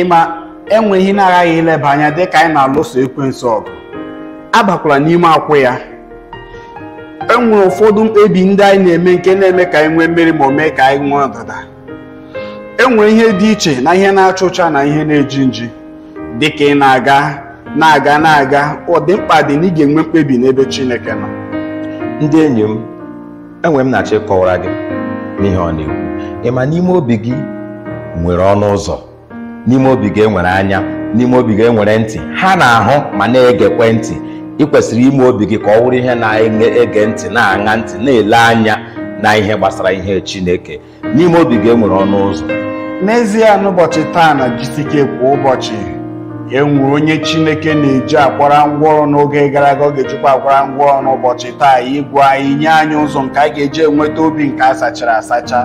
ịma e nwere ihe na-aghaghị ileba anya dị ka anyị na-alụso ekwensu ọgụ abakwala n'ime akwụ ya e nwere ụfọdụ mkpebi ndị anyị na-eme nke na-eme ka anyị nwee mmeri ma o mee ka anyị nwee ọdịda e nwere ihe dị iche na ihe na-acha ụcha na ihe na-eji nji dị ka ị na-aga na-aga na-aga ọ dị mkpa dị na ị ga-enwe mkpebi n'ebe Chineke nọ ndị enyi m enwe m na-achọ ịkọwara gị n'ihe ọ na-ekwu ị ma n'ime obi gị nwere ọnụ ụzọ n'ime obi gị enwere anya n'ime obi gị enwere ntị ha na-ahụ ma na-egekwe ntị ị kwesịrị ime obi gị ka ọ wụrụ ihe na-ege ntị na-aṅa ntị na-ele anya na ihe gbasara ihe Chineke n'ime obi gị enwere ọnụ ụzọ n'ezie n'ụbọchị taa na GCK kwa ụbọchị enwere onye chineke na-eji akwara ngwa ọrụ n'oge gara aga ọ ga-ejikwa akwara ngwa ọrụ n'ụbọchị taa ịgwa anyị nye anyị ụzọ nke anyị ga-eji enweta obi nke a sachara asacha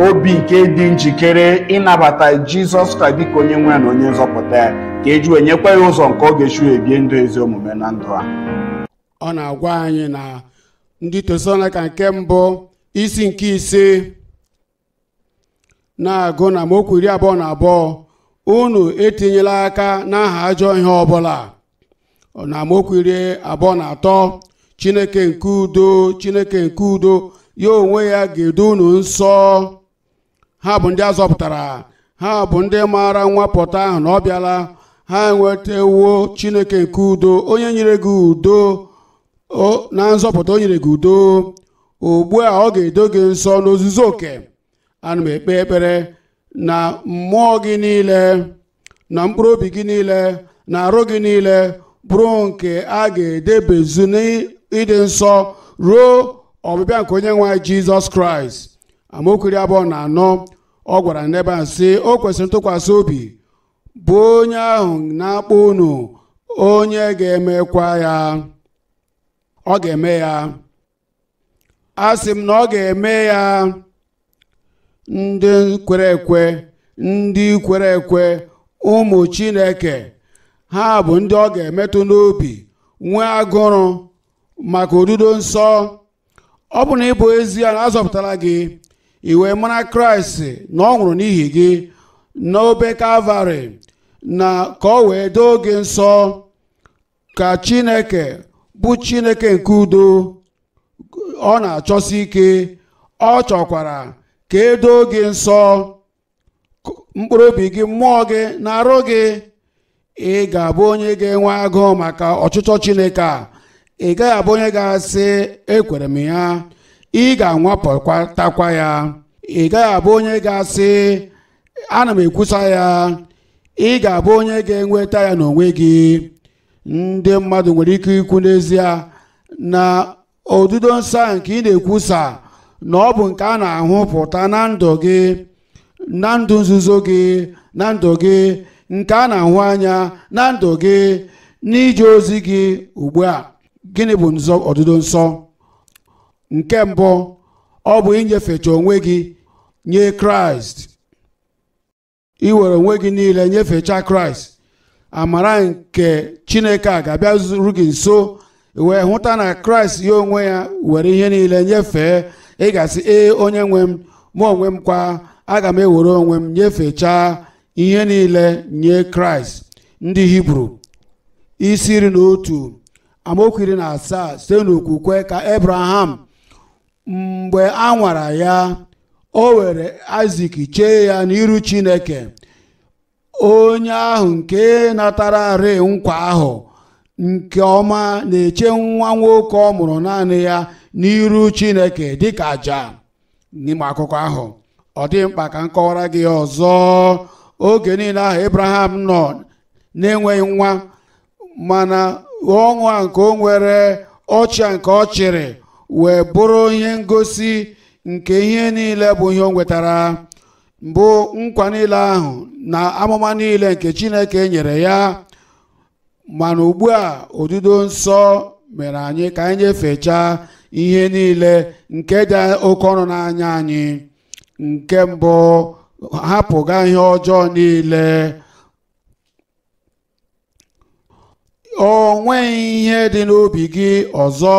obi nke dị njikere ịnabata jizọs kraịst dịka onye nwe ya na onye nzọpụta ya ka eji wee nyekwa ya ụzọ nke ọ ga-esi wee bie ndụ ezi omume na ndụ a ọ na-agwa anyị na ndị tesalonaịka nke mbụ isi nke ise na-agụ na amaokwu iri abụọ na abụọ unu etinyela aka n'aha ajọ ihe ọbụla na amaokwu iri abụọ na atọ chineke nke udo chineke nke udo ya onwe ya ga-edo unu nsọ ha bụ ndị azọpụtara ha bụ ndị maara nwapụta ahụ na ọ bịala ha enwetawo chineke nke udo onye nyere gị udo o- na nzọpụta o nyere gị udo ugbu a ọ ga-edo gị nsọ n'ozuzu oke ana m ekpe ekpere na mmụọ gị niile na mkpụrụ obi gị niile na arụ gị niile bụrụ nke a ga-edebezu n'ịdị nsọ ruo ọbịbịa nke onye nwe anyị jizọs kraịst amaokwu iri abụọ na anọ ọ gwara n'ebe a sị o kwesịrị ntụkwasị obi bụ onye ahụ na-akpọ unu onye ga-emekwa ya ọ ga-eme ya a sị m na ọ ga-eme ya ndị kwere ekwe ndị kwere ekwe ụmụ chineke ha bụ ndị ọ ga-emetụ n'obi nwee agụrụ maka odudo nsọ ọ bụrụ na ịbụ ezie na azọpụtara gị ị wee mara kraịst na ọ nwụrụ n'ihi gị n'obe kalvarị na ka ọ wee doo gị nsọ ka chineke bụ chineke nke udo ọ na-achọsi ike ọ chọkwara ka e doo gị nsọ mkpụrụ obi gị mmụọ gị na arụ gị ị ga-abụ onye ga-enwe agụụ maka ọchịchọ chineke a ị gaghị abụ onye ga-asị ekwere m ya ị ga-anwapụtakwa ya ị gaghị abụ onye ga-asị ana m ekwusa ya ị ga-abụ onye ga-enweta ya n'onwe gị ndị mmadụ nwere ike ikwu n'ezie na odudo nsọ a nke ị na-ekwusa na ọ bụ nke a na-ahụpụta na ndụ gị na ndụ nzuzo gị na ndụ gị nke a na-ahụ anya na ndụ gị n'ije ozi gị ugbu a gịnị bụ nzọ odudo nsọ nke mbụ ọ bụ inyefecha onwe gị nye kraịst iwere onwe gị niile nyefecha kraịst amara nke chineke a ga-abịaru gị nso wee hụta na kraịst ya onwe ya were ihe niile nyefee ị ga-asị ee onye nwe m mụ onwe m kwa aga m ewere onwe m nyefechaa ihe niile nye kraịst ndị hibru isi iri na otu amaokwu iri na asaa site n'okwukwe ka abraham mgbe a nwara ya o were aịzik chee ya n'iru chineke onye ahụ nke natararị nkwa ahụ nke ọma na-eche nwa nwoke ọ mụrụ naanị ya n'iru chineke dịka aja na ị ma akụkọ ahụ ọ dịghị mkpa ka m kọwara gị ya ọzọ oge niile ahụ abraham nọ na-enweghị nwa mana ọṅụ a nke o nwere ọchị a nke ọ chịrị wee bụrụ ihe ngosi nke ihe niile bụ ihe o nwetara bụ nkwa niile ahụ na amụma niile nke chineke nyere ya mana ugbu a odudo nsọ mere anyị ka anyị nyefechaa ihe niile nke dị oke ọnụ n'anya anyị nke mbụ hapụga ihe ọjọọ niile o nweghị ihe dị n'obi gị ọzọ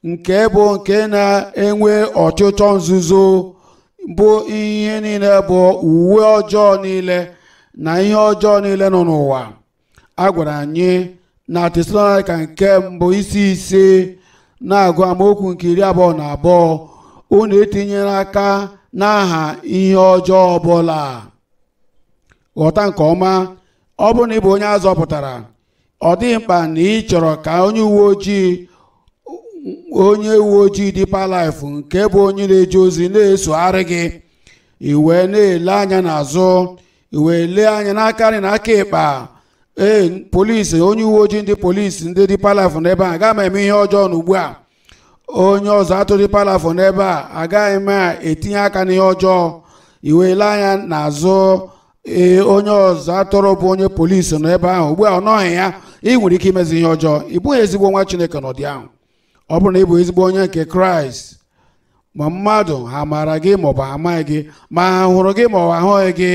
nke bụ nke na-enwe ọchịchọ nzuzo bụ ihe niile bụ uwe ọjọọ niile na ihe ọjọọ niile nọ n'ụwa a gwara anyị na tesalonaịka nke mbụ isi ise na-agụ amaokwu nke iri abụọ na abụọ unu etinyele aka n'aha ihe ọjọọ ọbụla ghọta nke ọma ọ bụrụ na ị bụ onye a zọpụtara ọ dịghị mkpa na ị chọrọ ka onye uwe ojii onye uwe ojii Deeper Life nke bụ onye na-eje ozi na-esogharị gị i wee na-ele anya n'azụ i wee lee anya n'aka nri na aka ịkpa ee polisi onye uwe ojii ndị polisi ndị Deeper Life nọ ebe a agaghị m eme ihe ọjọọ na ugbu a onye ọzụ atụrụ Deeper Life nọ ebe a agaghị m etinye aka n'ihe ọjọọ i wee lee anya n'azụ ee onye ọzụ atụrụ bụ onye polisi nọ ebe ahụ ugbu a ọ nọghị ya ị nwere ike imezi ihe ọjọọ ị bụghị ezigbo nwa chineke n'ụdị ahụ ọ bụrụ na ị bụ ezigbo onye nke kraịst ma mmadụ ha maara gị maọbụ ha amaghị gị ma ha hụrụ gị maọbụ ha ahụghị gị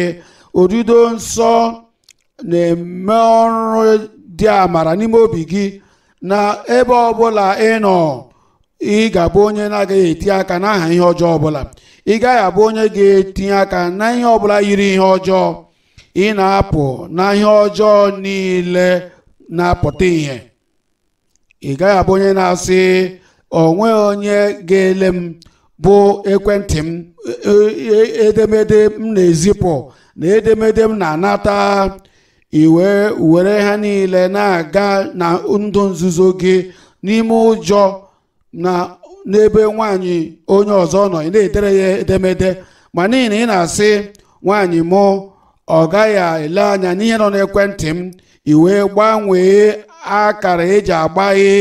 odido nsọ na-eme ọrụ dị amara n'ime obi gị na ebe ọbụla ị nọ ị ga-abụ onye na-agaghị etinye aka n'aha ihe ọjọọ ọbụla ị gaghị abụ onye ga-etinye aka na ihe ọbụla yiri ihe ọjọọ ị na-apụ na ihe ọjọọ niile na-apụta ihe ị gaghị abụ onye na-asị o nweghị onye ga-ele m bụ ekwentị m e- e- edemede m na-ezipụ na edemede m na-anata i wee were ha niile na-aga na ndụ nzuzo gị n'ime ụjọ na n'ebe nwaanyị onye ọzọ nọ ị na-edere ya edemede ma n'ihi na ị na-asị nwaanyị mụ ọ gaghị ele anya n'ihe nọ n'ekwentị m i wee gbanwee akara eji agbaghe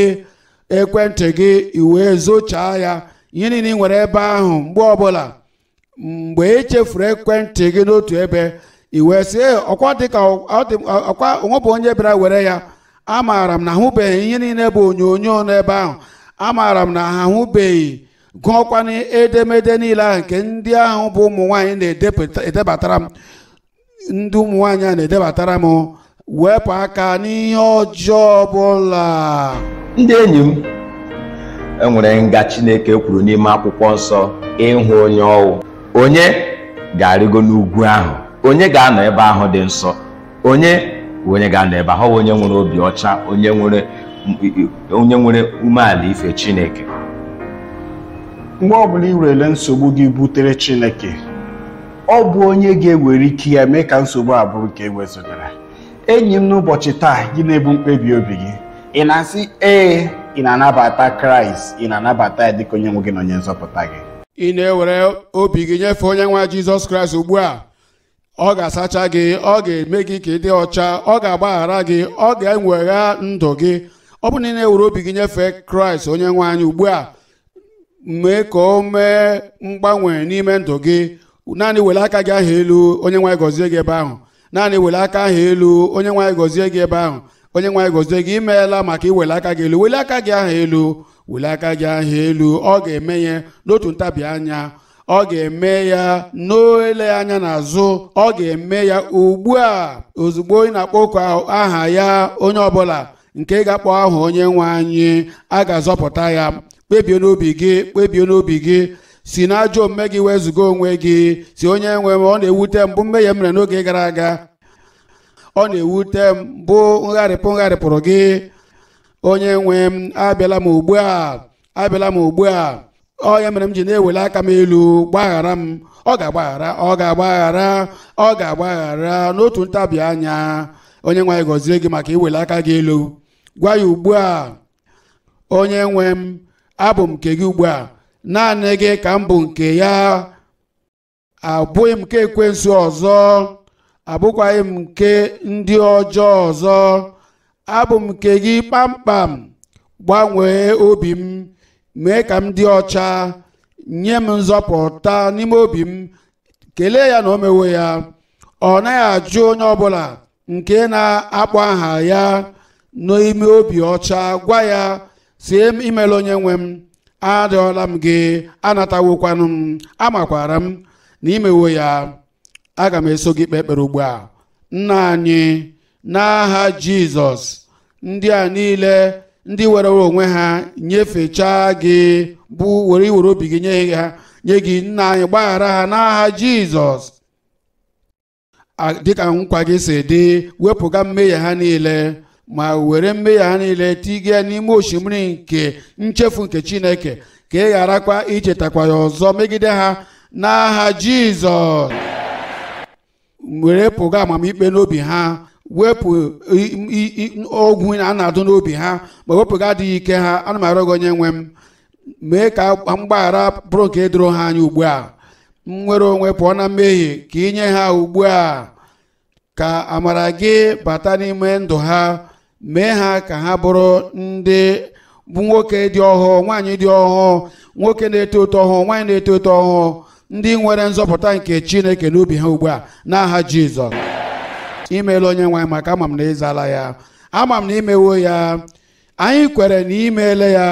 ekwentị gị i wee zochaa ya ihe niile ị nwere ebe ahụ mgbe ọbụla mgbe i chefuru ekwentị gị n'otu ebe i wee sị "Ee, ọkwa dịka ọ dị- ọkwa o nwebeghị onye bịara were ya amaara m na ahụbeghị ihe niile bụ onyonyo nọ ebe ahụ amaara m na ha ahụbeghị gụọkwanụ edemede niile ahụ nke ndị ahụ bụ ụmụ nwaanyị na-edebatara m ndị ụmụ nwaanyị a na-edebatara m wepụ aka n'ihe ọjọọ ọbụla ndị enyi m e nwere nga Chineke kwuru n'ime akwụkwọ nsọ ịhụ onye ọ wụ onye ga-arịgo n'ugwu ahụ onye ga-anọ ebe ahụ dị nsọ onye wụ onye ga-anọ ebe ahụ ọ wụ onye nwere obi ọcha onye nwere onye nwere umeala ife Chineke mgbe ọbụla ị werele nsogbu gị butere Chineke ọ bụ onye ga-ewere ike ya mee ka nsogbu a bụrụ nke ewezụgara enyi m n'ụbọchị taa gị na-ebu mkpebi obi gị ị na-asị ee ị na-anabata kraịst ị na-anabata ya dịka onye nwe gị na onye nzọpụta gị ị na-ewere obi gị nyefee onye nwe anyị jizọs kraịst ugbu a ọ ga-asacha gị ọ ga-eme gị ka ị dị ọcha ọ ga-agbaghara gị ọ ga-enwogha ndụ gị ọ bụrụ na ị na-ewere obi gị nyefee kraịst onye nwe anyị ugbu a mee ka o mee mgbanwe n'ime ndụ gị naanị wele aka gị ahụ elu onye nwe anyị gọzie gị ebe ahụ naanị wele aka ahụ elu onye nwe anyị gọzie gị ebe ahụ onye nwe anyị gọzie gị imeela maka iwele aka gị elu wele aka gị ahụ elu wele aka gị ahụ elu ọ ga-eme ya n'otu ntabi anya ọ ga-eme ya n'ole anya n'azụ ọ ga-eme ya ugbu a ozugbo ị na-akpọku aha ya onye ọbụla nke ga-akpọ aha onye nwe anyị a ga-azọpụta ya kpebie n'obi gị kpebie n'obi gị si n'ajọ omume gị wezụga onwe gị sị onye nwe m ọ na-ewute m bụ mmehie m mere n'oge gara aga ọ na-ewute m bụ ngharịpụ m gharịpụrụ gị onye nwe m abịala m ugbu a abịala m ugbu a ọ ya mere m ji na-ewele aka m elu gbaghara m ọ ga-agbaghara ọ ga-agbaghara ọ ga-agbaghara n'otu ntabi anya onye nwe anyị gọzie gị maka iwele aka gị elu gwa ya ugbu a onye nwe m abụ m nke gị ugbu a naanị gị ka m bụ nke ya abụghị m nke ekwensu ọzọ abụkwaghị m nke ndị ọjọọ ọzọ abụ m nke gị kpamkpam gbanwee obi m mee ka m dị ọcha nye m nzọpụta n'ime obi m kelee ya na o mewo ya ọ naghị ajụ onye ọbụla nke na-akpọ aha ya n'ime obi ọcha gwa ya sị em- imeela onye nwe m arịọla m gị anatawokwanụ m amakwara m na i mewo ya aga m eso gị kpee ekpere ugbu a nna anyị n'aha jizọs ndị a niile ndị were onwe ha nyefechaa gị bụ were iwere obi gị nye ha nye gị nna anyị gbaghara ha n'aha jizọs A- dịka nkwa gị si dị wepụga mmehie ha niile ma were mmehie ha niile tiga n'ime osimiri nke nchefu nke chineke ka ị gharakwa ichetakwa ya ọzọ megide ha n'aha jizọs were pụga amamikpe n'obi ha wepụ i- i- i- ogwu a na-adụ n'obi ha ma wepụga adịghị ike ha ana m arịọ gị onye nwe m mee ka mgbaghara bụrụ nke doro ha anya ugbu a nnwere onwe pụọ na mmehie ka ị nye ha ugbu a ka amara gị bata n'ime ndụ ha mee ha ka ha bụrụ ndị bụ nwoke dị ọhụụ nwaanyị dị ọhụụ nwoke na-eto eto ọhụụ nwaanyị na-eto eto ọhụụ ndị nwere nzọpụta nke chineke n'obi ha ugbu a n'aha jizọs imeela onye nwe anyị maka ama m na ị zala ya ama m na i mewo ya anyị kwere na imeele ya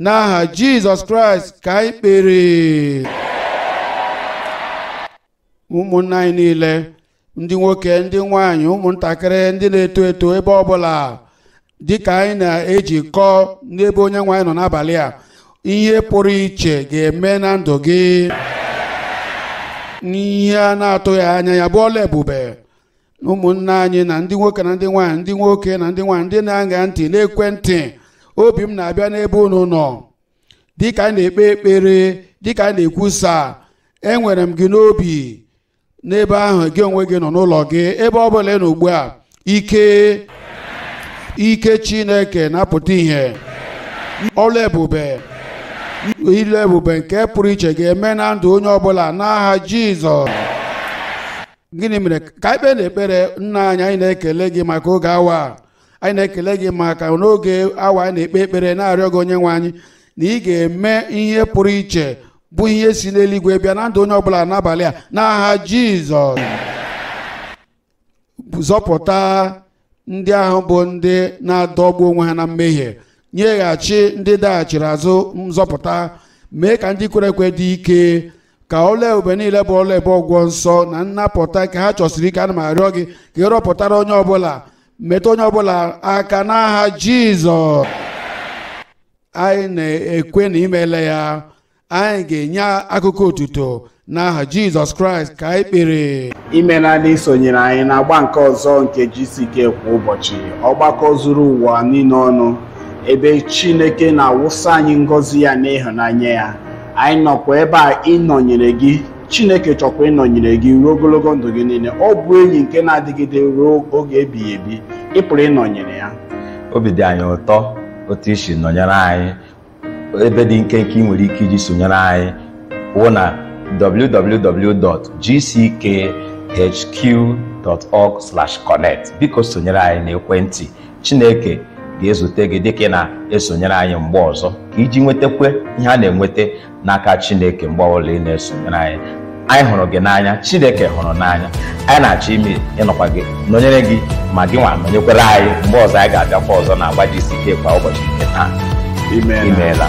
n'aha jizọs kraịst ka anyị kpere ụmụnna anyị niile ndị nwoke ndị nwaanyị ụmụntakịrị ndị na-eto eto ebe ọbụla dịka anyị na-ejikọ n'ebe onye nwe anyị nọ n'abalị a ihe pụrụ iche ga-eme na ndụ gị ihe a na-atụghị anya ya bụ ọlụ ebube ụmụnne anyị na ndị nwoke na ndị nwaanyị ndị nwoke na ndị nwaanyị ndị na-aṅa ntị n'ekwentị obi m na-abịa n'ebe unu nọ dịka anyị na-ekpe ekpere dịka anyị na-ekwusa enwere m gị n'obi n'ebe ahụ gị onwe gị nọ n'ụlọ gị ebe ọ bụla ị nọ ugbu a ike chineke na-apụta ihe ọlụ ebube ilu ebube nke pụrụ iche ga-eme na ndụ onye ọbụla n'aha jizọs gịnị mere ka anyị kpee n'ekpere nna anyị anyị na-ekele gị maka oge awa a anyị na-ekele gị maka n'oge awa a anyị na-ekpe ekpere na-arịọ gị onye nwe anyị na ị ga-eme ihe pụrụ iche bụ ihe si n'eluigwe bịa na ndụ onye ọbụla n'abalị a n'aha jizọs zọpụta ndị ahụ bụ ndị na-adọgbu onwe ha na mmehie nyeghachi ndị daghachiri azụ nzọpụta mee ka ndị kwere ekwe dị ike ka ọlụ ebube niile bụ ọlụ ebube ọgwụgwọ nsọ na nnapụta nke ha chọsiri ike ana m arịọ gị ka ị rụpụtara onye ọbụla metụ onye ọbụla aka n'aha jizọs anyị na-ekwe na imeele ya anyị ga-enye akụkọ otuto n'aha jizọs kraịst ka anyị kpere imeela na isonyere anyị na agba nke ọzọ nke GCK kwa ụbọchị ọgbakọ zuru ụwa niile ọnụ ebe Chineke na-awụsa anyị ngọzi ya na ịhụnanya ya anyị nọkwa ebe a ịnọnyere gị Chineke chọkwa ịnọnyere gị ruo ogologo ndụ gị niile ọ bụ enyi nke na-adịgide ruo oge ebighị ebi ị pụrụ ịnọnyere ya obi dị anyị ụtọ otu i si nọnyere anyị ebe dị nkenke ị nwere ike iji sonyere anyị wụ na www.gckhq.org/connect biko sonyere anyị n'ekwentị Chineke ga-ezute gị dịka ị na-esonyere anyị mgbe ọzọ ka iji nwetakwa ihe a na-enweta n'aka Chineke mgbe ọbụla ị na-esonyere anyị anyị hụrụ gị n'anya chineke hụrụ n'anya anyị na-achọ ime ịnọkwa gị nọnyere gị ma gị nwa nọnyekwara anyị mgbe ọzọ anyị ga-abịakwa ọzọ na agba GCK kwa ụbọchị nke taa Amen. imeela